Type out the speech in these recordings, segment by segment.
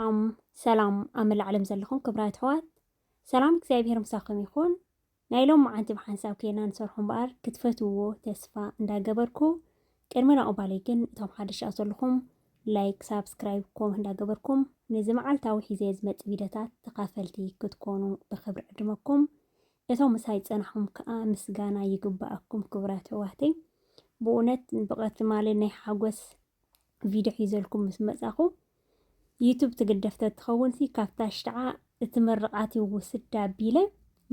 ሰላም ሰላም ኣብ መላእ ዓለም ዘለኹም ክብራት ኣሕዋት ሰላም እግዚኣብሔር ምሳኹም ይኹን። ናይ ሎም መዓንቲ ብሓንሳብ ከይና ንሰርሖ እምበኣር ክትፈትውዎ ተስፋ እንዳገበርኩ ቅድሚ ናቑባለይ ግን እቶም ሓደሻ ዘለኹም ላይክ ሳብስክራይብ ኮም እንዳገበርኩም ነዚ መዓልታዊ ሒዘ ዝመፅ ቪድዮታት ተኻፈልቲ ክትኮኑ ብክብሪ ዕድመኩም እቶም ምሳይ ጸናሕኩም ከኣ ምስጋና ይግበኣኩም ክቡራት ኣሕዋተይ ብኡነት ብቐ ትማሊ ናይ ሓጎስ ቪድዮ ሒዘልኩም ምስ መጻኹ ዩቱብ ትግደፍ ተትኸውንሲ ካብታ ሽዓ እቲ ምርቓት ይውስድ ኣቢለ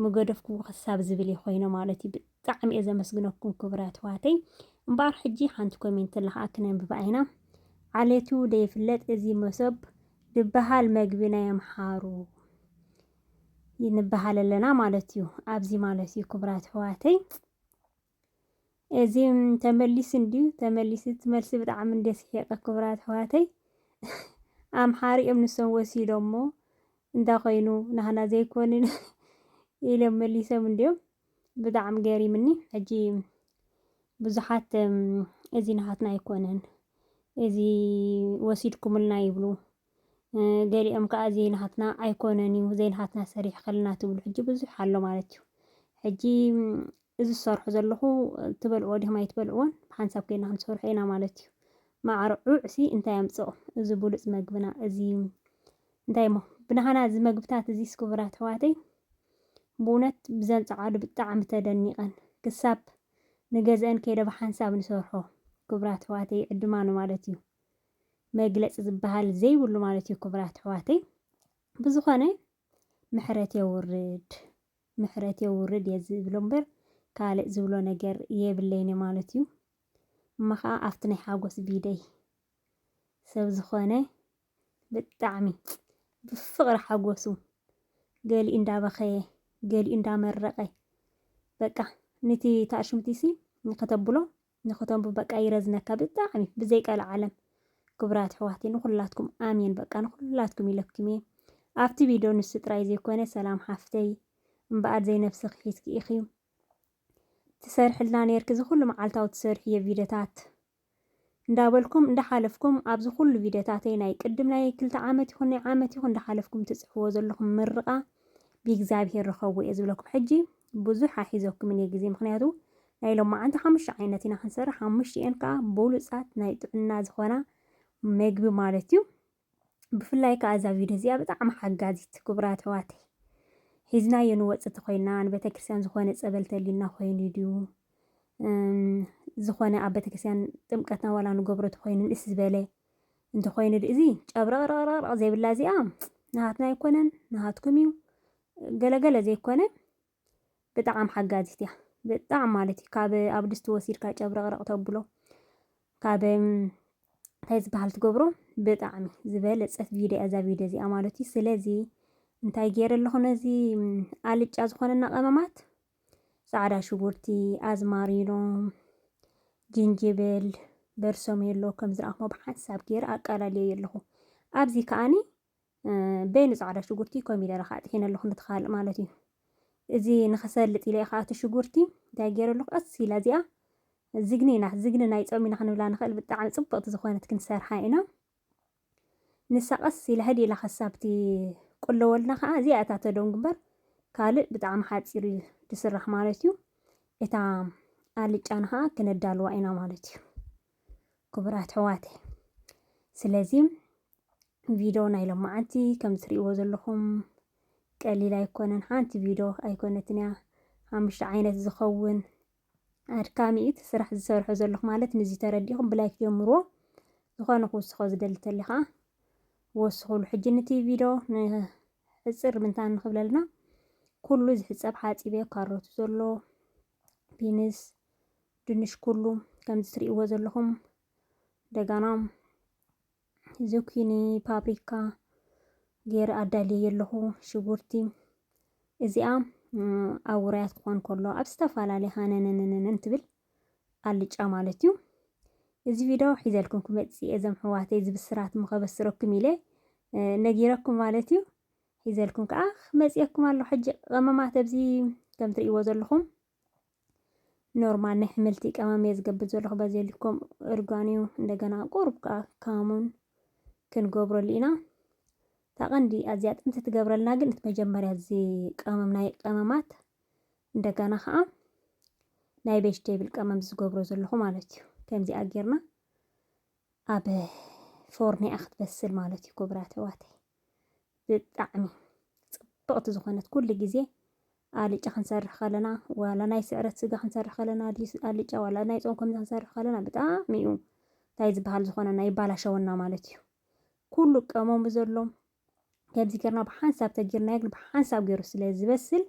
ምገደፍኩዎ ክሳብ ዝብል እዩ ኮይነ ማለት እዩ። ብጣዕሚ እየ ዘመስግነኩም ክቡራት ኣሕዋተይ። እምበኣር ሕጂ ሓንቲ ኮሜንት ኣላ ከዓ ክነንብባ ኢና። ዓሌቱ ደይፍለጥ እዚ መሶብ ድበሃል መግቢ ናይ ኣምሓሩ ንበሃል ኣለና ማለት እዩ። ኣብዚ ማለት እዩ ክቡራት ኣሕዋተይ እዚ ተመሊሱ እንድዩ ተመሊሱ እቲ መልሲ ብጣዕሚ እንደ ስሒቐ ክቡራት ኣሕዋተይ ኣምሓሪኦም ንሶም ወሲዶሞ እንዳ ኮይኑ ናህና ዘይኮንን ኢሎም መሊሶም እንድዮም ብጣዕሚ ገሪምኒ ሕጂ ብዙሓት እዚ ናሃትና ኣይኮነን እዚ ወሲድኩምልና ይብሉ ገሊኦም ከዓ ዘይናሃትና ኣይኮነን እዩ ዘይናሃትና ሰሪሕ ከለና ትብሉ ሕጂ ብዙሕ ኣሎ ማለት እዩ ሕጂ እዚ ዝሰርሑ ዘለኹ ትበልዕዎ ዲኹም ኣይትበልዕዎን ሓንሳብ ኮይና ክንሰርሖ ኢና ማለት እዩ ማዕርዑዕሲ እንታይ ኣምፅኦ እዚ ብሉፅ መግብና እዚ እንታይ እሞ ብናሃና እዚ መግብታት እዚ ስክቡራት ኣሕዋተይ ብእውነት ብዘንፀዓሉ ብጣዕሚ ተደኒቐን ክሳብ ንገዝአን ከይደ ብሓንሳብ ንሰርሖ ክቡራት ኣሕዋተይ ዕድማኑ ማለት እዩ መግለጺ ዝበሃል ዘይብሉ ማለት እዩ ክቡራት ኣሕዋተይ ብዝኾነ ምሕረት የውርድ ምሕረት የውርድ እየ ዝብሎ እምበር ካልእ ዝብሎ ነገር የብለይን ማለት እዩ እሞ ከዓ ኣብቲ ናይ ሓጎስ ቢደይ ሰብ ዝኾነ ብጣዕሚ ብፍቕሪ ሓጎሱ ገሊኡ እንዳበኸየ ገሊኡ እንዳመረቐ በቃ ነቲ ታሽምቲሲ ከተብሎ ንክተንቡ በቃ ይረዝነካ ብጣዕሚ ብዘይ ቀልዓለም ክቡራት ኣሕዋተይ ንኩላትኩም ኣሜን በቃ ንኩላትኩም ኢለኩም እየ ኣብቲ ቪድዮ ንሱ ጥራይ ዘይኮነ ሰላም ሓፍተይ እምበኣር ዘይነብስኺ ሒዝኪ ኢኺ ትሰርሕልና ነርኪ ዝኩሉ መዓልታዊ ትሰርሕዮ ቪድዮታት እንዳበልኩም እንዳሓለፍኩም ኣብዚ ኩሉ ቪድዮታተይ ናይ ቅድም ናይ ክልተ ዓመት ይኹን ናይ ዓመት ይኹን እንዳሓለፍኩም ትጽሕፍዎ ዘለኹም ምርቓ ብእግዚኣብሄር ርኸቡ እየ ዝብለኩም ሕጂ ብዙሕ ኣይሒዘኩምን እየ ግዜ ምኽንያቱ ናይ ሎማዓንቲ ሓሙሽተ ዓይነት ኢና ክንሰርሕ ሓሙሽቲኤን ከዓ ብሉፃት ናይ ጥዕና ዝኾና መግቢ ማለት እዩ ብፍላይ ከዓ እዛ ቪድዮ እዚኣ ብጣዕሚ ሓጋዚት ክቡራት ኣሕዋተይ ሒዝናዮ ንወፅእ ተኾይና ንቤተክርስትያን ዝኾነ ፀበል ተልዩና ኮይኑ ድዩ ዝኾነ ኣብ ቤተክርስትያን ጥምቀትና ዋላ ንገብሮ ተኾይኑ ንእስ ዝበለ እንተኾይኑ እዚ ጨብረቕረቕረቕ ዘይብላ እዚኣ ናሃትና ኣይኮነን ናሃትኩም እዩ ገለ ገለ ዘይኮነ ብጣዕም ሓጋዚት እያ ብጣዕም ማለት እዩ ካብ ኣብ ድስቲ ወሲድካ ጨብረቕረቕ ተብሎ ካብ እንታይ ዝበሃል ትገብሮ ብጣዕሚ ዝበለፀት ቪድዮ እዛ ቪድዮ እዚኣ ማለት እዩ ስለዚ እንታይ ገይረ ኣለኹ ነዚ ኣልጫ ዝኾነና ቀመማት ፃዕዳ ሽጉርቲ ኣዝማሪኖ ጅንጅብል በርሶሜሎ ከም ዝረኣኹሞ ብሓንሳብ ገይረ ኣቃላልዮ ኣለኹ ኣብዚ ከዓኒ በይኑ ፃዕዳ ሽጉርቲ ኮሚደረ ከዓ ጥሒነ ኣለኹ ነቲ ካልእ ማለት እዩ እዚ ንኸሰልጥ ኢለ ከዓ እቲ ሽጉርቲ እንታይ ገይረ ኣለኹ ቀስ ኢላ እዚኣ ዝግኒ ኢና ዝግኒ ናይ ፆም ኢና ክንብላ ንኽእል ብጣዕሚ ፅብቕቲ ዝኾነት ክንሰርሓ ኢና ንሳ ቀስ ኢላ ህድ ኢላ ከሳብቲ ቁለወልና ከዓ እዚኣ እታ ተደንጉ እምበር ካልእ ብጣዕሚ ሓፂር እዩ ትስራሕ ማለት እዩ እታ ኣልጫና ከዓ ክነዳልዋ ኢና ማለት እዩ ክቡራት ሕዋተይ ስለዚ ቪድዮ ናይ ሎማዓንቲ ከም ትሪእዎ ዘለኹም ቀሊል ኣይኮነን። ሓንቲ ቪድዮ ኣይኮነትን እያ ሓሙሽተ ዓይነት ዝኸውን ኣድካሚ እዩ እቲ ስራሕ ዝሰርሖ ዘለኹ ማለት ንዚ ተረዲኹም ብላይክ ጀምርዎ። ዝኾነ ክውስኾ ዝደሊ ተሊ ከዓ ወስኹሉ። ሕጂ ንቲ ቪድዮ ንሕፅር ምንታን ንክብለልና ኩሉ ዝሕፀብ ሓፂበ ካሮቱ ዘሎ ቢንስ፣ ድንሽ ኩሉ ከምዚ ትሪእዎ ዘለኹም ደጋና ዙኪኒ ፓፕሪካ ገይረ ኣዳልየ ኣለኹ ሽጉርቲ እዚኣ ኣብ ውራያት ክኾን ከሎ ኣብ ዝተፈላለየ ሃነነነነን ትብል ኣልጫ ማለት እዩ እዚ ቪድዮ ሒዘልኩም ክመፅእ እዘም ሕዋተይ ዝብስራት ምኸበስረኩም ኢለ ነጊረኩም ማለት እዩ ሒዘልኩም ከዓ ክመፅየኩም ኣሎ ሕጂ ቐመማት ኣብዚ ከም ትርእይዎ ዘለኹም ኖርማል ናይ ሕምልቲ ቀመም እየ ዝገብር ዘለኹ በዚ ልኮም እርጓን እዩ እንደገና ቁሩብ ከዓ ካሙን ክንገብረሉ ኢና እታ ቀንዲ ኣዝያ ጥንቲ ትገብረልና ግን እቲ መጀመርያ እዚ ቀመም ናይ ቀመማት እንደገና ከዓ ናይ ቬጅቴብል ቀመም ዝገብሮ ዘለኹ ማለት እዩ ከምዚኣ ጌርና ኣብ ፎርኖ እያ ክትበስል ማለት እዩ ክቡራት ኣሕዋተይ ብጣዕሚ ፅብቕቲ ዝኾነት ኩሉ ግዜ ኣልጫ ክንሰርሕ ከለና ዋላ ናይ ስዕረት ስጋ ክንሰርሕ ከለና ኣልጫ ዋላ ናይ ፆም ከምዚ ክንሰርሕ ከለና ብጣዕሚ እዩ እንታይ ዝበሃል ዝኾነና ይባላሸወና ማለት እዩ ኩሉ ቀመሙ ዘሎ ከምዚ ጌርና ብሓንሳብ ተጌርናዮ ግን ብሓንሳብ ጌሩ ስለ ዝበስል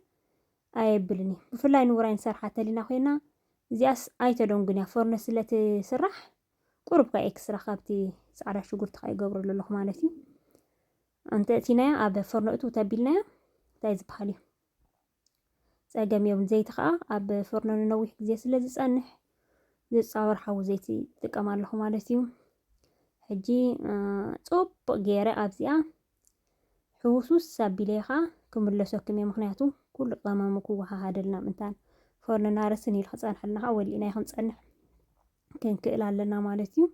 ኣየብልን እዩ። ብፍላይ ንውራይ ንሰርሓ ተሊና ኮይና እዚኣስ ኣይተደንጉን እያ ፎርኖ ስለ ትስራሕ ቁሩብ ከ ኤክስትራ ካብቲ ጻዕዳ ሽጉርቲ ከ ይገብረሉ ኣለኹ ማለት እዩ። እንተ እቲናያ ኣብ ፎርኖ እትው ተቢልናያ እንታይ ዝበሃል እዩ ጸገም የብሉን። ዘይቲ ከኣ ኣብ ፍርኖ ንነዊሕ ግዜ ስለ ዝጸንሕ ዝጻወር ሓዊ ዘይቲ ትጥቀም ኣለኹ ማለት እዩ። ሕጂ ጽቡቕ ገይረ ኣብዚኣ ሕውስውስ ኣቢለ ከኣ ክምለሰኩም እየ ምክንያቱ ኩሉ ቀመሙ ክወሃሃደልና ምእንታን ፈርንና ርስን ኢሉ ክጸንሐልና ከኣ ወሊእና ክንጸንሕ ክንክእል ኣለና ማለት እዩ።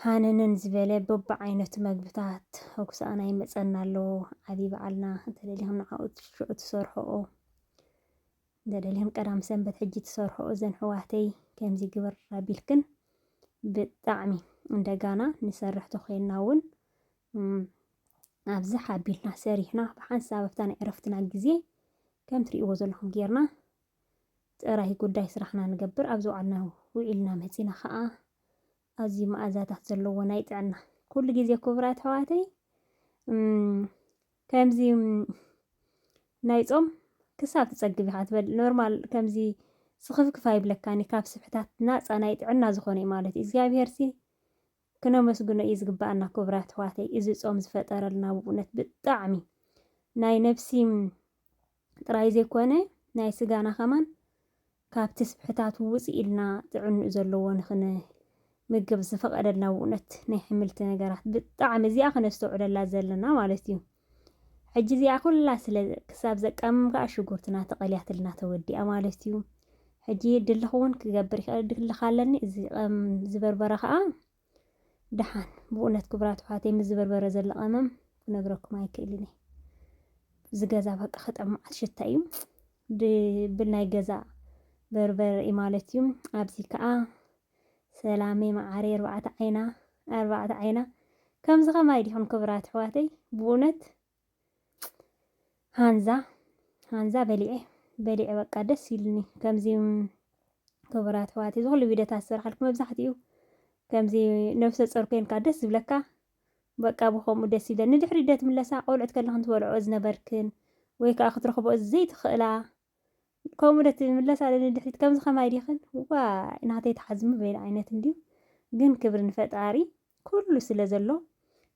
ሃነነን ዝበለ በብዓይነቱ መግብታት ኣብ ክሳኣና ይመጸና ኣሎ። ዓቢ በዓልና እንተደሊኹም ንዓኡ ሽዑ ትሰርሕኦ እንተደሊኹም ቀዳም ሰንበት ሕጂ ትሰርሕኦ እዘን ሕዋተይ ከምዚ ግበር ኣቢልክን ብጣዕሚ እንደጋና ንሰርሕ ተኮይንና እውን ኣብዚ ሓቢልና ሰሪሕና ብሓንሳብ ኣብታ ናይ ዕረፍትና ግዜ ከም ትርእይዎ ዘለኹም ጌርና ጥራይ ጉዳይ ስራሕና ንገብር ኣብ ዝውዓልና ውዒልና መጺና ከኣ ኣዝዩ መኣዛታት ዘለዎ ናይ ጥዕና ኩሉ ግዜ ክቡራት ኣሕዋተይ ከምዚ ናይ ጾም ክሳብ ትጸግብ ኢኻ ትበል ኖርማል ከምዚ ስኽፍክፍ ኣይብለካኒ ካብ ስብሕታት ናፃ ናይ ጥዕና ዝኾነ እዩ ማለት እዩ እግዚኣብሄር ሲ ክነመስግኖ እዩ ዝግባኣና ክቡራት ኣሕዋተይ እዚ ፆም ዝፈጠረልና ብእውነት ብጣዕሚ ናይ ነብሲ ጥራይ ዘይኮነ ናይ ስጋና ከማን ካብ ትስብሕታቱ ውጽእ ኢልና ጥዕንኡ ዘለዎ ንክን ምግብ ዝፈቀደልና ውነት ናይ ሕምልቲ ነገራት ብጣዕሚ እዚኣ ክነስተውዕለላ ዘለና ማለት እዩ ሕጂ እዚኣ ኩላ ስለ ክሳብ ዘቃምም ከኣ ሽጉርትና ተቀልያትልና ተወዲኣ ማለት እዩ ሕጂ ድልኽ እውን ክገብር ይኽእል ድልኽ ኣለኒ እዚ ዝበርበረ ከኣ ደሓን ብእውነት ክብራት ኣሕዋተይ ምስ ዝበርበረ ዘሎ ቀመም ክነግረኩም ኣይክእልን እየ እዚ ገዛ በቃ ከጠምዓት ሽታ እዩ ድብል ናይ ገዛ በርበር እዩ ማለት እዩ ኣብዚ ከዓ ሰላመ መዓሪ ኣርባዕተ ዓይና ኣርባዕተ ዓይና ከምዚ ከማይ ዲኹም ክብራት ኣሕዋተይ ብእውነት ሃንዛ ሃንዛ በሊዐ በሊዐ በቃ ደስ ኢሉኒ ከምዚ ክቡራት ኣሕዋት እዚ ኩሉ ቪድዮታት ዝሰርሓልኩ መብዛሕትኡ ከምዚ ነብሰ ጾር ኮይንካ ደስ ዝብለካ በቃ ብከምኡ ደስ ይብለኒ ንድሕሪ ዶ ትምለሳ ቆልዑት ከለኽን ትበልዖ ዝነበርክን ወይ ከዓ ክትረኽቦ ዘይትኽእላ ከምኡ ዶ ትምለሳ ዶ ንድሕሪት ከምዚ ከማይ ዲኽን ዋይ ናተይ ትሓዝሚ በይኑ ዓይነት እንድዩ ግን ክብሪ ንፈጣሪ ኩሉ ስለ ዘሎ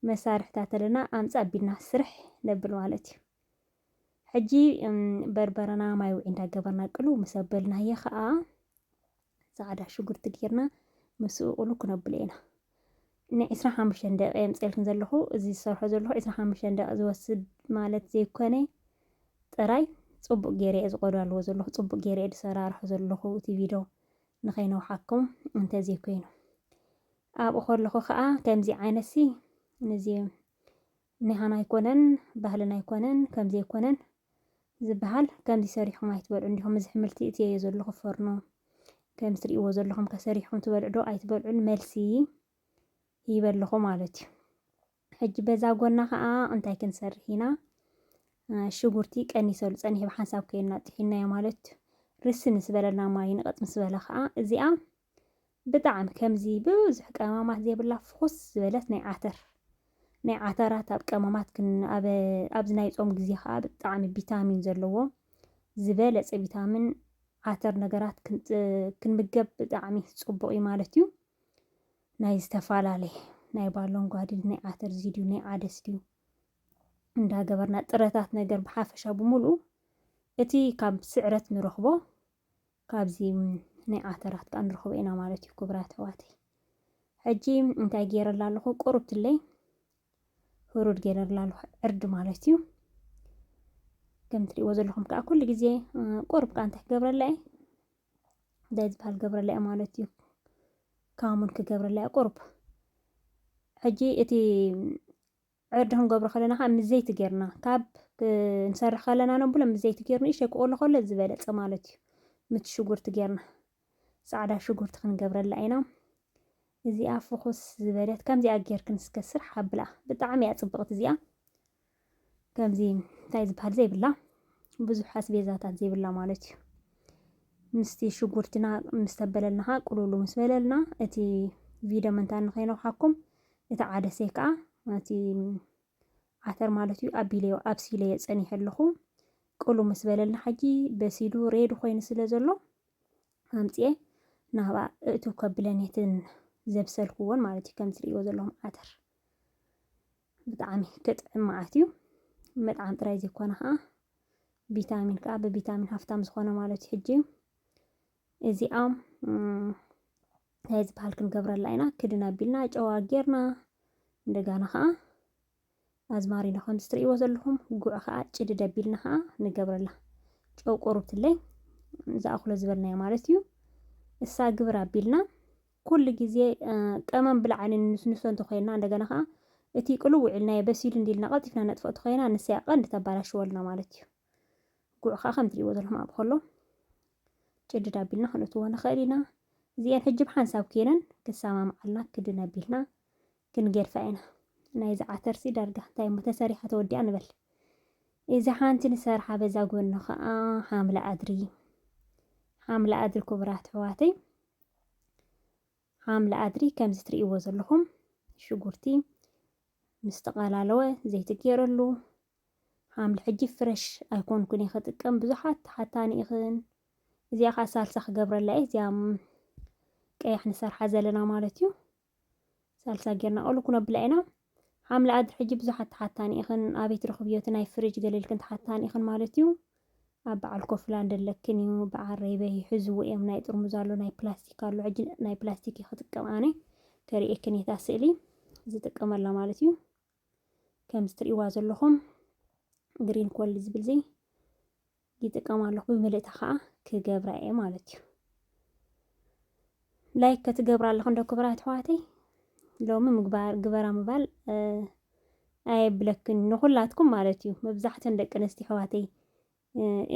መሳርሕታት ኣለና ኣምጻ ኣቢልና ስርሕ ነብል ማለት እዩ ሕጂ በርበረና ማይ ውዒ እንዳገበርና ቅሉ ምስ ኣበልናዮ ከኣ ጻዕዳ ሽጉርቲ ጌርና ምስኡ ቁሉ ክነብሎ ኢና። ን ዕስራ ሓሙሽተን ደቂቅ የምጽኤልክን ዘለኹ እዚ ዝሰርሖ ዘለኹ ዕስራ ሓሙሽተን ደቂቅ ዝወስድ ማለት ዘይኮነ ጥራይ ጽቡቅ ጌረ እየ ዝቆዳልዎ ዘለኹ ጽቡቅ ጌረ እየ ዝሰራርሖ ዘለኹ እቲ ቪዶ ንኸይነውሓኩም እንተዘይኮይኑ ኣብኡ ከለኹ ከኣ ከምዚ ዓይነትሲ ንዚ ኒሃና ኣይኮነን ባህልና ኣይኮነን ከምዚ ኣይኮነን ዝብሃል ከምዚ ሰሪሕኩም ኣይትበልዑን ዲኹም እዚ ሕምልቲ እትየዮ ዘለኹ ፎርኖ ከምዚ ትርእይዎ ዘለኹም ከሰሪሕኩም ትበልዑ ዶ ኣይትበልዑን መልሲ ሂበ ኣለኹ ማለት እዩ ሕጂ በዛ ጎና ከዓ እንታይ ክንሰርሕ ኢና ሽጉርቲ ቀኒሰሉ ፀኒሑ ብሓንሳብ ኮይና ጥሒናዮ ማለት እዩ ርሲ ምስ በለና ማይ ንቐፅ ምስ በለ ከዓ እዚኣ ብጣዕሚ ከምዚ ብብዙሕ ቀማማት ዘይብላ ፍኹስ ዝበለት ናይ ዓተር ናይ ዓተራት ኣብ ቀማማት ክን ኣብ ኣብዚ ናይ ጾም ግዜ ከኣ ብጣዕሚ ቪታሚን ዘለዎ ዝበለጸ ቪታሚን ዓተር ነገራት ክንምገብ ብጣዕሚ ጽቡቕ እዩ ማለት እዩ። ናይ ዝተፈላለየ ናይ ባሎንጓ ድዩ ናይ ዓተር እዚ ድዩ ናይ ዓደስ ድዩ እንዳገበርና ጥረታት ነገር ብሓፈሻ ብምሉኡ እቲ ካብ ስዕረት ንረኽቦ ካብዚ ናይ ዓተራት ከኣ ንረኽቦ ኢና ማለት እዩ ክቡራት ኣሕዋተይ። ሕጂ እንታይ ገይረላ ኣለኹ ቁሩብትለይ ህሩድ ገይረላ ኣለኹ ዕርዲ ማለት እዩ። ከም ትሪእዎ ዘለኹም ከዓ ኩሉ ግዜ ቁሩብ ከዓ እንታይ ክገብረላ እየ እንታይ ዝበሃል ገብረላ እየ ማለት እዩ ካሙን ክገብረላ እየ ቁሩብ ሕጂ እቲ ዕርዲ ክንገብሮ ከለና ከኣ ምስ ዘይቲ ጌርና ካብ ክንሰርሕ ከለና ነብሎ ምስ ዘይቲ ጌሩ ንእሽተይ ክቆሎ ከሎ ዝበለጸ ማለት እዩ። ምት ሽጉርቲ ጌርና ጻዕዳ ሽጉርቲ ክንገብረላ ኢና። እዚኣ ፍኹስ ዝበለት ከምዚኣ ጌርክን እስከ ስራሕ ኣብላ ብጣዕሚ እያ ጽብቕቲ እዚኣ ከምዚ እንታይ ዝበሃል ዘይብላ ብዙሕ ኣስቤዛታት ዘይብላ ማለት እዩ። ምስቲ ሽጉርትና ምስ ተበለልና ቁሉሉ ምስ በለልና እቲ ቪድዮ ምንታ ንኸይነውሓኩም እቲ ዓደሰይ ከኣ እቲ ዓተር ማለት እዩ ኣቢለዮ ኣብሲለዮ ጸኒሐ ኣለኹ ቅሉ ምስ በለልና ሓጂ በሲሉ ሬድ ኮይኑ ስለ ዘሎ ኣምጽኤ ናብኣ እእትው ከብለን የትን ዘብሰልክዎን ማለት እዩ ከም ትርእይዎ ዘለኹም ዓተር ብጣዕሚ ክጥዕም መዓት እዩ መጥዓም ጥራይ ዘይኮነ ከዓ ቪታሚን ከዓ ብቪታሚን ሃፍታም ዝኾነ ማለት እዩ ሕጂ እዚኣ ናይ ዝበሃል ክንገብረላ ኢና ክድን ኣቢልና ጨዋ ጌርና እንደጋና ከዓ ኣዝማሪኖ ከምዚ ትርእይዎ ዘለኹም ጉዕ ከዓ ጭድድ ኣቢልና ከዓ ንገብረላ ጨው ቆርብትለይ ዝኣኽሎ ዝበልናዮ ማለት እዩ እሳ ግብር ኣቢልና ኩሉ ግዜ ቀመም ብላዕኒ ንስንሶ እንተኮይና እንደገና ከዓ እቲ ቅልው ውዒልናዮ በሲሉ እንዲልና ቀልጢፍና ነጥፍኦ እንተኮይና ንሰያ ቀንዲ ተባላሽወልና ማለት እዩ ጉዕ ከዓ ከም ትሪእዎ ዘለኹም ኣብኡ ከሎ ጭድድ ኣቢልና ክንእትዎ ንኽእል ኢና እዚኤን ሕጂ ብሓንሳብ ኬነን ክሰማምዓልና ክድን ኣቢልና ክንገድፋ ኢና ናይ ዝዓተርሲ ዳርጋ እንታይ እሞ ተሰሪሓ ተወዲኣ ንበል እዚ ሓንቲ ንሰርሓ በዛ ጎኒ ከዓ ሓምለ ኣድሪ ሓምለ ኣድሪ ክቡራት ኣሕዋተይ ሓምለ ኣድሪ ከምዚ ትርእይዎ ዘለኹም ሽጉርቲ ምስ ተቐላለወ ዘይቲ ገይረሉ ሓምሊ ሕጂ ፍረሽ ኣይኮንኩን እየ ክጥቀም ብዙሓት ተሓታኒ ኢኽን እዚኣ ከዓ ሳልሳ ክገብረላ እየ እዚኣ ቀያሕ ንሰርሓ ዘለና ማለት እዩ ሳልሳ ጌርና ቆሉ ኩነብላ ኢና ሓምሊ ኣድሪ ሕጂ ብዙሓት ተሓታኒ ኢኽን ኣበይ ትረኽብዮ እቲ ናይ ፍሪጅ ገለልክን ተሓታኒ ኢኽን ማለት እዩ ኣብ በዓል ኮፍላንድ ኣለክን እዩ በዓል ረይበይ ሕዝዎ እዮም ናይ ጥርሙዝ ኣሎ ናይ ፕላስቲክ ኣሎ ሕጂ ናይ ፕላስቲክ ክጥቀም ኣነ ከርእየክን እየ እታ ስእሊ ዝጥቀመላ ማለት እዩ ከምዚ ትርእይዋ ዘለኹም ግሪን ኮል ዝብል እዚ ይጥቀም ኣለኹ ብምልእታ ከዓ ክገብራ እየ ማለት እዩ ላይክ ከትገብራ ኣለኹ እንዶ ክብራ ኣሕዋተይ ሎሚ ምግባር ግበራ ምባል ኣየብለክን ንኹላትኩም ማለት እዩ መብዛሕተን ደቂ ኣንስትዮ ኣሕዋተይ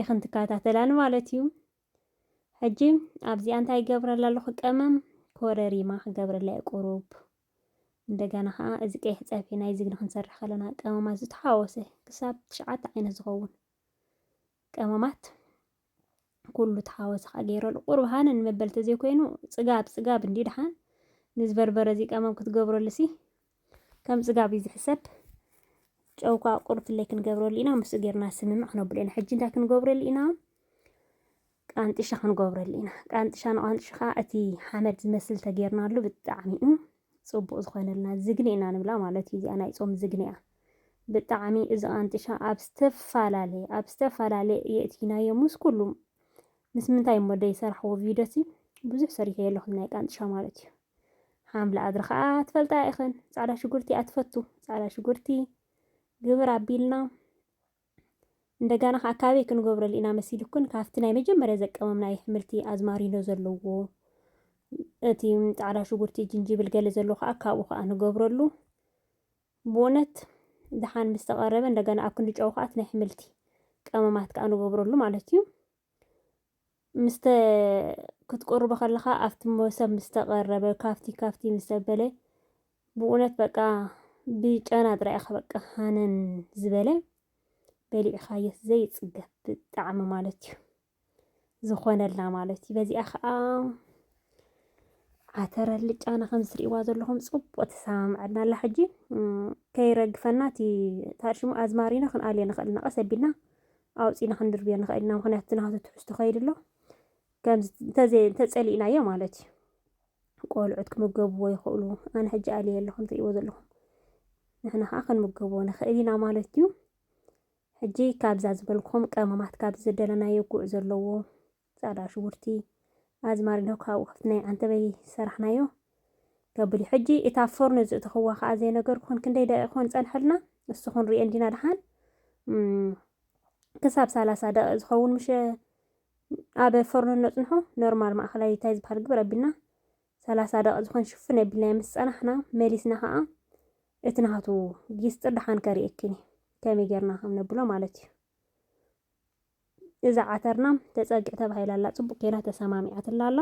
ኢኽን ትከታተላን ማለት እዩ ሕጂ ኣብዚኣ እንታይ ይገብረላ ኣለኹ ቀመም ኮረሪማ ክገብረላ እየ ቁሩብ እንደገና ከዓ እዚ ቀይሕ ፀብሒ ናይ ዝግኒ ክንሰርሕ ከለና ቀመማት ዝተሓወሰ ክሳብ ትሽዓተ ዓይነት ዝኸውን ቀመማት ኩሉ ተሓወሰ ከዓ ገይረሉ ቁርብ ሃነ ንመበል ተዘይኮይኑ ፅጋብ ፅጋብ እንዲ ድሓን ነዚ በርበረ እዚ ቀመም ክትገብረሉ ሲ ከም ፅጋብ እዩ ዝሕሰብ ጨው ከዓ ቁርብ ፍለይ ክንገብረሉ ኢና ምስኡ ጌርና ስምምዕ ክነብሉ ኢና ሕጂ እንታይ ክንገብረሉ ኢና ቃንጥሻ ክንገብረሉ ኢና ቃንጥሻ ንቃንጥሻ ከዓ እቲ ሓመድ ዝመስል ተጌርናሉ ብጣዕሚ እዩ ፅቡቅ ዝኮነልና ዝግኒ ኢና ንብላ ማለት እዩ እዚኣ ናይ ፆም ዝግኒ እያ ብጣዕሚ እዚ ቃንጥሻ ኣብ ዝተፈላለየ ኣብ ዝተፈላለየ የእቲናዮ ምስ ኩሉ ምስ ምንታይ እሞ ደይሰራሕዎ ቪድዮ ሲ ብዙሕ ሰሪሐ የለኹም ናይ ቃንጥሻ ማለት እዩ ሓምሊ ኣድሪ ከዓ ትፈልጣ ኢኽን ፃዕዳ ሽጉርቲ እያ ትፈቱ ፃዕዳ ሽጉርቲ ግብር ኣቢልና እንደጋና ከኣ ካበይ ክንገብረሉ ኢና መሲሉክን ካብቲ ናይ መጀመርያ ዘቀመምናዮ ሕምልቲ ኣዝማሪኖ ዘለዎ እቲ ጻዕዳ ሽጉርቲ ጅንጅብል ገለ ዘሎ ከኣ ካብኡ ከኣ ንገብረሉ ብእውነት ደሓን ምስ ተቐረበ እንደገና ኣብ ክንዲ ጨው ከኣ እቲ ናይ ሕምልቲ ቀመማት ከኣ ንገብረሉ ማለት እዩ። ምስተ ክትቁርቦ ከለኻ ኣብቲ መሶብ ምስ ተቐረበ ካብቲ ካብቲ ምስ ተበለ ብእውነት በቃ ብጨና ጥራይ ኢኻ በቃ ሃነን ዝበለ በሊዕኻዮስ ዘይጽገብ ብጣዕሚ ማለት እዩ ዝኾነልና ማለት እዩ። በዚኣ ከዓ ዓተረ ልጫና ከም ዝትርእይዋ ዘለኹም ጽቡቅ ተሰማምዐና ኣላ። ሕጂ ከይረግፈና እቲ ታርሽሙ ኣዝማሪኖ ክንኣልዮ ንኽእል ኢና። ቀስ ኣቢልና ኣውጺእና ክንድርብዮ ንኽእል ኢና፣ ምኽንያቱ እቲ ናቱ ትሕዝቶ ከይዲ ኣሎ፣ ከምዚ እንተዘይ እንተጸሊእናዮ ማለት እዩ። ቆልዑት ክምገብዎ ይኽእሉ፣ ኣነ ሕጂ ኣልየ ኣለኹ እንትርእይዎ ዘለኹም፣ ንሕና ከዓ ክንምገብዎ ንኽእል ኢና ማለት እዩ። ሕጂ ካብዛ ዝበልኩም ቀመማት ካብዚ ዝደለናዮ ጉዕ ዘለዎ ጻዕዳ ሽጉርቲ ኣዝማሪኖ ካብኡ ክፍቲ ናይ ዓንተበይ ሰራሕናዮ ከብል እዩ ሕጂ እታ ፎርኖ ዝእተኽዋ ከኣ ዘይነገርኩኽን ክንደይ ደቂቕ ኮን ጸንሐልና ንሱ ክንሪኦ እንዲና ደሓን ክሳብ ሰላሳ ደቂቕ ዝኸውን ምሸ ኣብ ፎርኖ ነጽንሖ ኖርማል ማእኸላይ እንታይ ዝበሃል ግብር ኣቢልና ሰላሳ ደቂ ዝኾን ሽፍን ኣቢልና ምስ ጸናሕና መሊስና ከዓ እቲ ናቱ ጊስጢር ደሓን ከሪእክኒ ከመይ ጌርና ከም ነብሎ ማለት እዩ እዛ ዓተርና ተጸግዕ ተባሂላ ኣላ ጽቡቅ ኬና ተሰማሚዓትላ ኣላ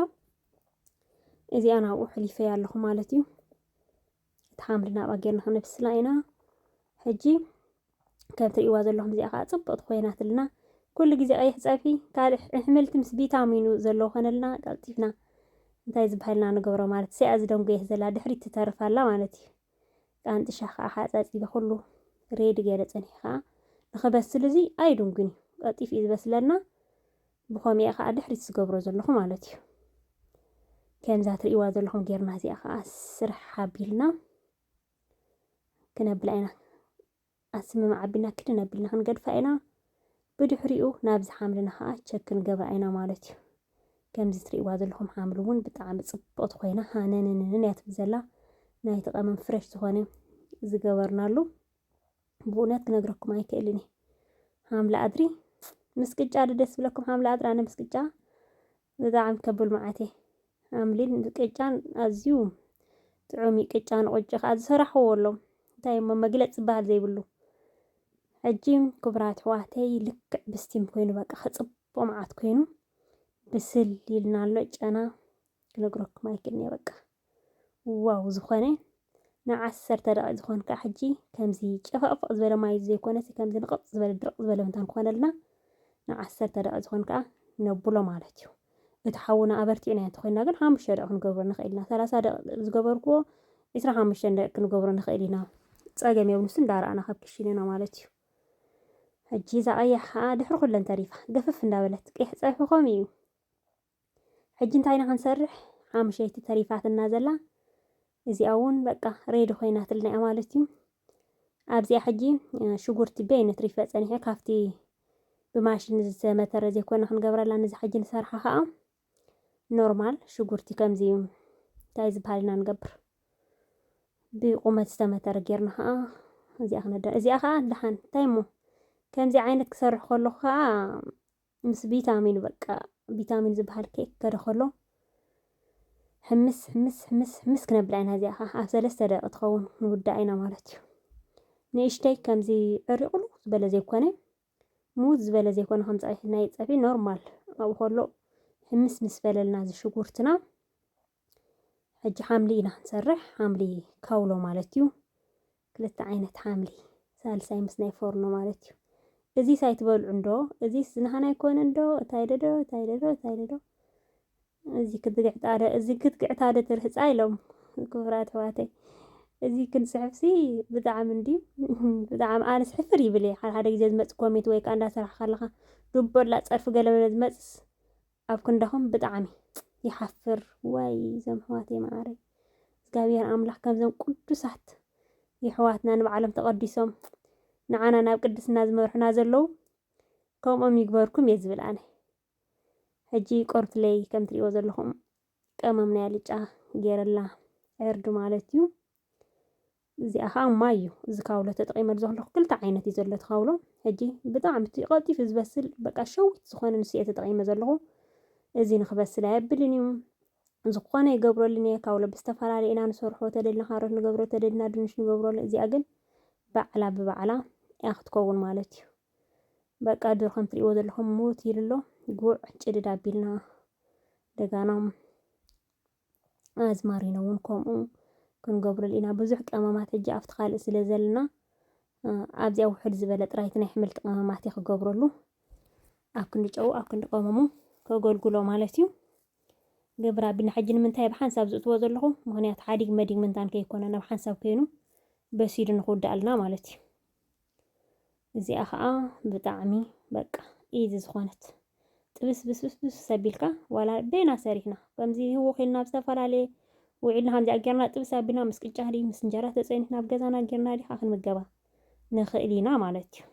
እዚኣ ናብኡ ሕሊፈያ ኣለኹ ማለት እዩ እቲ ሓምሊ ናብኣ ጌርና ክነብስላ ኢና ሕጂ ከም ትርእይዋ ዘለኹም እዚኣ ከዓ ጽብቕቲ ኮይናትልና ኩሉ ግዜ ቀይሕ ፀብሒ ካልእ ኣሕምልቲ ምስ ቪታሚኑ ዘለዎ ኮነልና ቀልጢፍና እንታይ ዝበሃልና ንገብሮ ማለት እዚኣ ዝደንጎየት ዘላ ድሕሪት ትተርፍ ኣላ ማለት እዩ ጣንጥሻ ከኣ ሓጻጺቢ ኩሉ ሬዲ ገይረ ጸኒሑ ከኣ ንኽበስል እዚ ኣይዱንግን እዩ ቀልጢፉ እዩ ዝበስለና ብኾሚያ ከኣ ድሕሪት ዝገብሮ ዘለኹ ማለት እዩ ከምዛ ትርእይዋ ዘለኹም ጌርና እዚኣ ከኣ ስርሕ ሓቢልና ክነብላ ኢና ኣስመማ ዓቢልና ክድን ኣቢልና ክንገድፋ ኢና። ብድሕሪኡ ናብዚ ሓምልና ከኣ ቸክ ክንገብራ ኢና ማለት እዩ። ከምዚ ትርእይዋ ዘለኹም ሓምሊ እውን ብጣዕሚ ጽብቕቲ ኮይና ሃነንንንን እያ ትብል ዘላ። ናይቲ ቀመም ፍረሽ ዝኾነ ዝገበርናሉ ብእውነት ክነግረኩም ኣይክእልን እየ። ሓምሊ ኣድሪ ምስ ቅጫ ዶ ደስ ብለኩም? ሓምሊ ኣድሪ ኣነ ምስ ቅጫ ብጣዕሚ ከብል መዓት እየ ኣምሊን ቅጫን ኣዝዩ ጥዑም እዩ ቅጫ ንቁጭ ከዓ ዝሰራሕዎ ኣሎም እንታይ እሞ መግለፅ ዝበሃል ዘይብሉ ሕጂ ክብራት ሕዋተይ ልክዕ ብስቲም ኮይኑ በቃ ከፅቦ መዓት ኮይኑ ብስል ይልና ኣሎ ጨና ክነግረኩም ኣይክእልንየ በቃ ዋው ዝኾነ ንዓሰርተ ደቂቅ ዝኾን ከዓ ሕጂ ከምዚ ጨፈቕፈቕ ዝበለ ማይ ዘይኮነሲ ከምዚ ንቕፅ ዝበለ ድርቕ ዝበለ እንተን ኮነልና ንዓሰርተ ደቂቅ ዝኾን ከዓ ነብሎ ማለት እዩ እቲ ሓውና ኣበርቲዕና እንተኮይና ግን ሓሙሽተ ደቂቅ ክንገብሮ ንኽእል ኢና ሰላሳ ደቂቅ ዝገበርክዎ ዕስራ ሓሙሽተ ደቂቅ ክንገብሮ ንኽእል ኢና ፀገም የብሉ ንሱ እንዳረኣና ካብ ክሽንና ማለት እዩ ሕጂ እዛ ቀያሕ ከዓ ድሕሪ ኩለን ተሪፋ ገፍፍ እንዳበለት ቀይሕ ፀብሒ ከምኡ እዩ ሕጂ እንታይ ኢና ክንሰርሕ ሓሙሸይቲ ተሪፋትና ዘላ እዚኣ እውን በቃ ሬዲ ኮይናትልና እያ ማለት እዩ ኣብዚኣ ሕጂ ሽጉርቲ በይ ነትሪፈ ፀኒሐ ካብቲ ብማሽን ዝተመተረ ዘይኮነ ክንገብረላ ነዚ ሕጂ ንሰርሓ ከዓ ኖርማል ሽጉርቲ ከምዚ እዩ እንታይ ዝበሃል ኢና ንገብር ብቁመት ዝተመተረ ጌርና ከዓ እዚኣ ክነደ እዚኣ ከዓ ደሓን እንታይ እሞ ከምዚ ዓይነት ክሰርሕ ከለኹ ከዓ ምስ ቢታሚን በቃ ቢታሚን ዝበሃል ኬክ ከደ ከሎ ሕምስ ሕምስ ሕምስ ሕምስ ክነብላ ኢና እዚኣ ከዓ ኣብ ሰለስተ ደቂ ትኸውን ንውዳእ ኢና ማለት እዩ ንእሽተይ ከምዚ ዕሪቕሉ ዝበለ ዘይኮነ ሙዝ ዝበለ ዘይኮነ ከም ፀብሒ ናይ ፀብሒ ኖርማል ኣብኡ ከሎ ሕምስ ምስ በለልና እዚ ሽጉርትና ሕጂ ሓምሊ ኢና ክንሰርሕ ሓምሊ ካውሎ ማለት እዩ ክልተ ዓይነት ሓምሊ ሳልሳይ ምስ ናይ ፎርኖ ማለት እዩ እዚ ሳይ ትበልዑ እንዶ እዚ ዝናህና ይኮነ እንዶ እታይ ደዶ እታይ ደዶ እታይ ደዶ እዚ ክትግዕት ኣደ እዚ ክትግዕት ኣደ ትርህፃ ኢሎም ክብራት ሕዋተይ እዚ ክንፅሕፍሲ ብጣዕሚ እንዲ ብጣዕሚ ኣነስ ሕፍር ይብል ሓደ ሓደ ግዜ ዝመፅ ኮሜንት ወይ ከዓ እንዳሰራሕካ ኣለካ ዱበላ ፀርፊ ገለመለ ዝመፅስ ኣብ ክንዳኹም ብጣዕሚ ይሓፍር ዋይ ዘም ሕዋተይ መዓረይ እግዚኣብሔር ኣምላኽ ከምዘም ቅዱሳት የሕዋትና ንባዕሎም ተቐዲሶም ንዓና ናብ ቅድስና ዝመርሑና ዘለዉ ከምኦም ይግበርኩም እየ ዝብል ኣነ ሕጂ ቆርትለይ ከም ትሪእዎ ዘለኹም ቀመም ናይ ኣልጫ ጌረላ ዕርዲ ማለት እዩ እዚኣ ከኣ ማይ እዩ እዚ ካውሎ ተጠቂመሉ ዘለኩ ክልተ ዓይነት እዩ ዘሎ እቲ ካውሎ ሕጂ ብጣዕሚ እቲ ቀልጢፉ ዝበስል በቃ ሸዊት ዝኮነ ንሱ እየ ተጠቂመ ዘለኩ እዚ ንክበስል ኣየብልን እዩ ዝኾነ ይገብረሉን እየ ካውሎ ብዝተፈላለየ ኢና ንሰርሖ ተደልና ካሮት ንገብሮ ተደልና ድንሽ ንገብረሉ እዚኣ ግን ባዕላ ብባዕላ እያ ክትከውን ማለት እዩ በቃ ድሮ ከም ትሪእዎ ዘለኹም ሙት ይልሎ ጉዕ ጭድድ ኣቢልና ደጋና ኣዝማሪኖ እውን ከምኡ ክንገብረሉ ኢና። ብዙሕ ቀመማት ሕጂ ኣብቲ ካልእ ስለ ዘለና ኣብዚኣ ውሕድ ዝበለ ጥራይቲ ናይ ሕምልቲ ቀመማት እየ ክገብረሉ። ኣብ ክንዲ ጨው ኣብ ክንዲ ቀመሙ ከገልግሎ ማለት እዩ። ግብረ ኣቢልና ሕጂ ንምንታይ ኣብ ሓንሳብ ዝእትዎ ዘለኹ ምክንያቱ ሓዲግ መዲግ ምንታን ከይኮነ ናብ ሓንሳብ ኮይኑ በሲሉ ንክውዳኣልና ማለት እዩ። እዚኣ ከዓ ብጣዕሚ በቃ ኢዚ ዝኾነት ጥብስ ብስብስብስ ሰቢልካ ዋላ በይና ሰሪሕና ከምዚ ህውኽ ኢልና ኣብ ዝተፈላለየ ውዒልና ከምዚኣ ጌርና ጥብስ ኣቢልና ምስ ቅጫ ድዩ ምስ እንጀራ ተፀኒሕና ኣብ ገዛና ጌርና ድዩ ከዓ ክንምገባ ንኽእል ኢና ማለት እዩ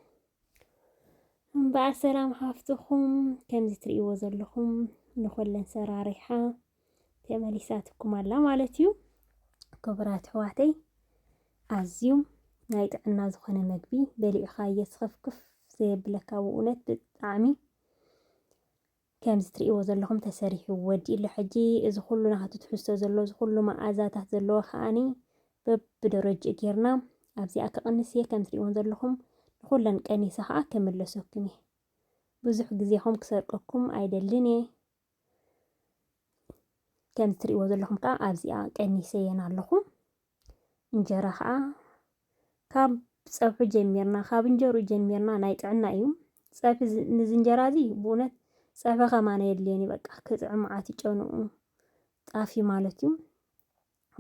እምበኣር ሰላም ሓፍትኹም ከምዚ ትርእይዎ ዘለኹም ንኹለን ሰራሪሓ ተመሊሳትኩም ኣላ ማለት እዩ ክቡራት ኣሕዋተይ ኣዝዩ ናይ ጥዕና ዝኾነ መግቢ በሊዕኻ እየስኸፍክፍ ዘየብለካ ብእውነት ብጣዕሚ ከምዚ ትርእይዎ ዘለኹም ተሰሪሑ ወዲኡ ኣሎ ሕጂ እዚ ኩሉ ናቱ ትሕዝቶ ዘለዎ እዚ ኩሉ መኣዛታት ዘለዎ ከዓኒ በብደረጅኡ ጌርና ኣብዚኣ ክቕንስ እየ ከም ትርእይዎን ዘለኹም ንኹለን ቀኒሰ ከዓ ክምለሰኩም እየ ብዙሕ ግዜኹም ክሰርቀኩም ኣይደልን እየ ከም እትሪእዎ ዘለኹም ከዓ ኣብዚኣ ቀኒሰየን ኣለኹ እንጀራ ከዓ ካብ ፀብሑ ጀሚርና ካብ እንጀሩ ጀሚርና ናይ ጥዕና እዩ ፀብሒ ንዚ እንጀራ እዚ ብእውነት ፀብሒ ከማን የድልየን እዩ በቃ ክጥዕም መዓት ይጨንኡ ጣፊ ማለት እዩ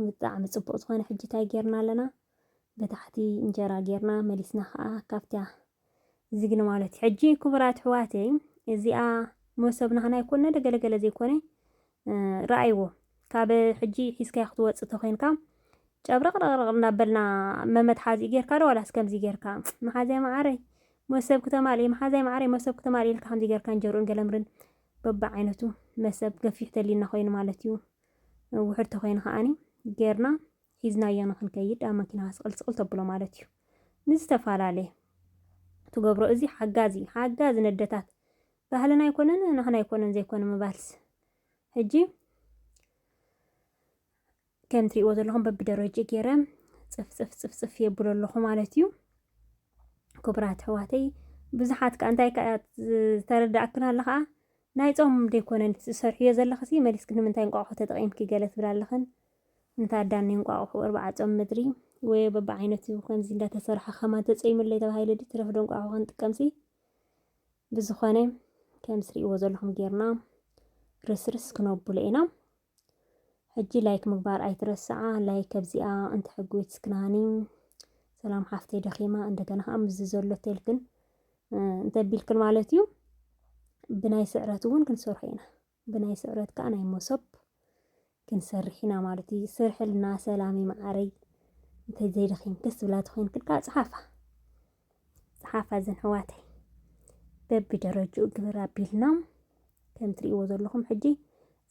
ብጣዕሚ ጽቡቅ ዝኮነ ሕጂ ታይ ጌርና ኣለና ብታሕቲ እንጀራ ጌርና መሊስና ከኣ ካብታ ዝግኒ ማለት እዩ ሕጂ ክቡራት ኣሕዋተይ እዚኣ መሶብ ናህና ይኮን ነደ ገለገለ ዘይኮነ ረኣይዎ ካብ ሕጂ ሒዝካዮ ክትወጽእ ተኮይንካ ጨብረቅረቅረቅ እናበልና መመትሓዚ ጌርካ ዶ ዋላስ ከምዚ ጌርካ መሓዛይ መዓረይ መሶብ ክተማልኢ መሓዛይ መዓረይ መሶብ ክተማልኢ ኢልካ ከምዚ ጌርካ እንጀርኡን ገለምርን በብዓይነቱ መሰብ ገፊሕ ተሊና ኮይኑ ማለት እዩ ውሑድ ተኾይኑ ከዓኒ ጌርና ሒዝናዮ ንክንከይድ ኣብ መኪናኻ ስቕል ስቕል ተብሎ ማለት እዩ ንዝተፈላለየ ትገብሮ እዚ ሓጋዚ ሓጋዚ ነደታት ባህልና ኣይኮነን ናህና ኣይኮነን ዘይኮነ ምባልስ ሕጂ ከም ትሪእዎ ዘለኹም በብደረጅ ገይረ ፅፍፅፍ ፅፍፅፍ የብሎ ኣለኹ ማለት እዩ ክቡራት ኣሕዋተይ ብዙሓት ከ እንታይ ተረዳእክን ኣለ ከዓ ናይ ጾም ዶ ኣይኮነን እቲ ትሰርሕዮ ዘለኽሲ መሊስኪ ንምንታይ እንቋቑሖ ተጠቒምኪ ገለ ትብላ ኣለኽን እንተ ኣዳን ናይ እንቋቑሑ እርባዓ ጾም ምድሪ ወዮ በብዓይነቱ ከምዚ እንዳ ተሰርሐ ከማን ተጸይሙለይ ተባሂሉ ድዩ ትረፍዶ እንቋቑሖ ክንጥቀምሲ ብዝኾነ ከም ትርእይዎ ዘለኹም ጌርና ርስርስ ክነብሎ ኢና ሕጂ ላይክ ምግባር ኣይትረስዓ ላይክ ከብዚኣ እንተ ሕጉት ስክናኒ ሰላም ሓፍተይ ደኺማ እንደገና ከዓ ምዝ ዘሎ ቴልክን እንተቢልክን ማለት እዩ ብናይ ስዕረት እውን ክንሰርሖ ኢና ብናይ ስዕረት ከዓ ናይ መሶብ ክንሰርሕ ኢና ማለት እዩ ስርሕልና ሰላም መዓረይ እንተዘይደኺምክስ ብላ ተኮይንክልካ ፀሓፋ ሓፋዝን ሕዋተይ በቢ ደረጅኡ ግብር ኣቢልና ከም ትርእይዎ ዘለኹም ሕጂ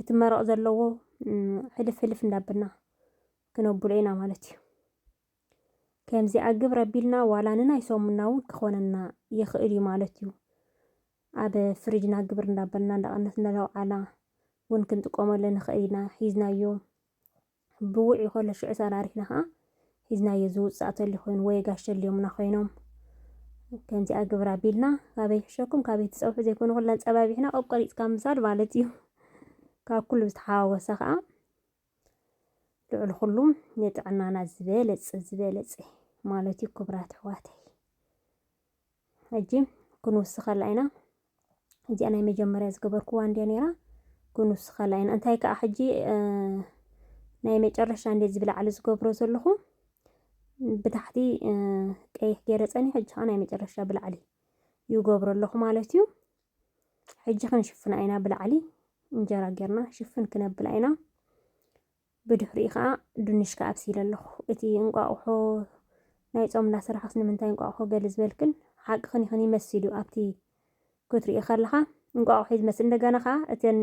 እቲ መረቕ ዘለዎ ሕልፍ ሕልፍ እንዳብልና ክነብሎ ኢና ማለት እዩ ከምዚኣ ግብር ኣቢልና ዋላ ንናይ ሰሙና እውን ክኾነና ይኽእል እዩ ማለት እዩ ኣብ ፍሪጅና ግብር እንዳበልና እንዳቐነስ እንዳለውዓላ እውን ክንጥቀመሉ ንኽእል ኢና ሒዝናዮ ብውዕ ይኸሎ ሽዑ ሰራሪሕና ከኣ ሒዝናዮ ዝውጻእ ተልዩ ኮይኑ ወየ ጋሽ ተልዮምና ኮይኖም ከምዚኣ ግብር ኣቢልና ካበይ ሕሸኩም ካበይ ትጸውሑ ዘይኮነ ኩላ ጸባቢሕና ቆቆሪጽካ ምሳድ ማለት እዩ ካብ ኩሉ ዝተሓዋወሰ ከኣ ልዑል ኩሉ ንጥዕናና ዝበለጸ ዝበለጸ ማለት እዩ ክብራት ኣሕዋተይ ሕጂ ክንውስኸላ ኢና እዚኣ ናይ መጀመርያ ዝገበርክዋ እንድያ ነይራ ክንውስኸላ ኢና እንታይ ከዓ ሕጂ ናይ መጨረሻ እንደዚ ብላዕሊ ዝገብሮ ዘለኹ ብታሕቲ ቀይሕ ገይረ ፀኒ ሕጂ ከዓ ናይ መጨረሻ ብላዕሊ ይገብሮ ኣለኹ ማለት እዩ ሕጂ ክንሽፍና ኢና ብላዕሊ እንጀራ ጌርና ሽፍን ክነብላ ኢና ብድሕሪኡ ከኣ ድንሽካ ኣብሲለ ኣለኹ። እቲ እንቋቑሖ ናይ ጾም እንዳሰራሕክስ ንምንታይ እንቋቑሖ ገለ ዝበልክን ሓቅኽን ኢኽን ይመሲሉ ኣብቲ ክትሪኦ ከለኻ እንቋቑሖ እዩ ዝመስል እንደገና ከኣ እተን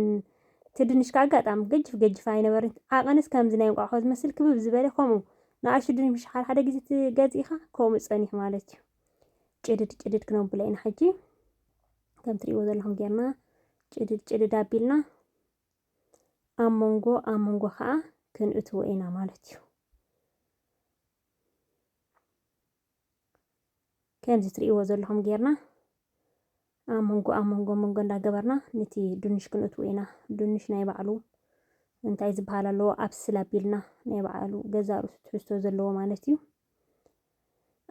እቲ ድንሽ ከኣ ኣጋጣሚ ገጅፍ ገጅፍ ኣይነበርን ዓቐንስ ከምዚ ናይ እንቋቑሖ ዝመስል ክብብ ዝበለ ከምኡ ንኣሽቱ ድንሽ ሓደ ሓደ ግዜ ትገዝኢኻ ከምኡ ጸኒሑ ማለት እዩ ጭድድ ጭድድ ክነብሎ ኢና ሕጂ ከም ትሪእዎ ዘለኹም ጌርና ጭድድ ጭድድ ኣቢልና ኣብ መንጎ ኣብ መንጎ ከዓ ክንእትዎ ኢና ማለት እዩ ከምዚ ትርእይዎ ዘለኹም ጌርና ኣብ መንጎ ኣብ መንጎ መንጎ እንዳገበርና ነቲ ድንሽ ክንእትዎ ኢና። ድንሽ ናይ ባዕሉ እንታይ ዝበሃል ኣለዎ ኣብስል ኣቢልና ናይ ባዕሉ ገዛ ርእሱ ትሕዝቶ ዘለዎ ማለት እዩ።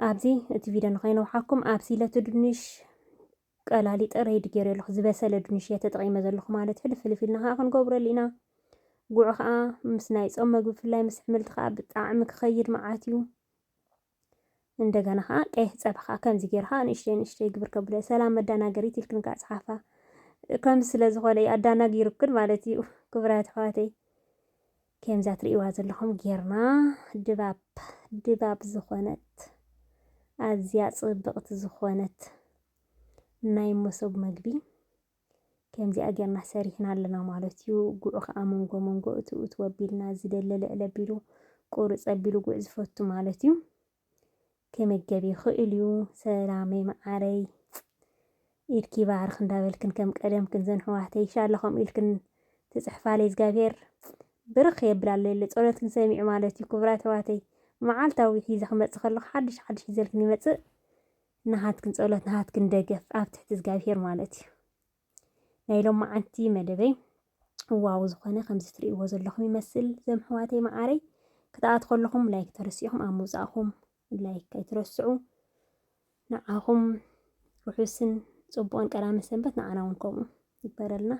ኣብዚ እቲ ቪድዮ ንኸይነውሓኩም ኣብሲለ እቲ ድንሽ ቀላሊጠ ረይድ ጌሬ ኣለኹ ዝበሰለ ዱንሽ እየ ተጠቂመ ዘለኹ ማለት ሕልፍ ሕልፍ ኢልና ከኣ ክንገብረሉ ኢና ጉዕ ከኣ ምስ ናይ ጾም መግቢ ብፍላይ ምስ ሕምልቲ ከኣ ብጣዕሚ ክኸይድ መዓት እዩ እንደገና ከኣ ቀይሕ ጸብሒ ከኣ ከምዚ ጌርካ ንእሽተይ ንእሽተይ ግብር ከብለ ሰላም መዳናገሪት ኢልክን ከኣ ጽሓፋ ከም ስለ ዝኾነ ኣዳናጊሩክን ማለት እዩ ክብራት ኣሕዋተይ ከምዛ ትርእይዋ ዘለኹም ጌርና ድባብ ድባብ ዝኾነት ኣዝያ ጽብቕቲ ዝኾነት ናይ መሶብ መግቢ ከምዚኣ ጌርና ሰሪሕና ኣለና ማለት እዩ። ጉዕ ከኣ መንጎ መንጎ እቱ እቱ ኣቢልና ዝደለ ልዕል ኣቢሉ ቁርጽ ኣቢሉ ጉዕ ዝፈቱ ማለት እዩ። ክምገብ ይኽእል እዩ ሰላመይ መዓረይ ኢድኪ ይባርኽ እንዳበልክን ከም ቀደምክን ዘንሕዋተይ ሻሎ ከምኡ ኢልክን ትጽሕፋለይ እዝጋብሄር ብርኽ የብላ ኣሎ የለ ጸሎትክን ሰሚዑ ማለት እዩ ክቡራት ኣሕዋተይ መዓልታዊ ሒዘ ክመጽእ ከለኹ ሓድሽ ሓድሽ ሒዘልክን ይመጽእ ናሃትክን ጸሎት ናሃትክን ደገፍ ኣብ ትሕቲ እዝጋብሄር ማለት እዩ ናይ ሎማዓንቲ መደበይ ዋው ዝኾነ ከምዚ ትርእይዎ ዘለኹም ይመስል ዘምሕዋተይ መዓረይ ክትኣት ከለኹም ላይክ ተረሲዕኹም ኣብ ምውጻእኹም ላይክ ኣይትረስዑ ንዓኹም ርሑስን ጽቡቕን ቀዳመ ሰንበት ንዓና እውን ከምኡ ይበረልና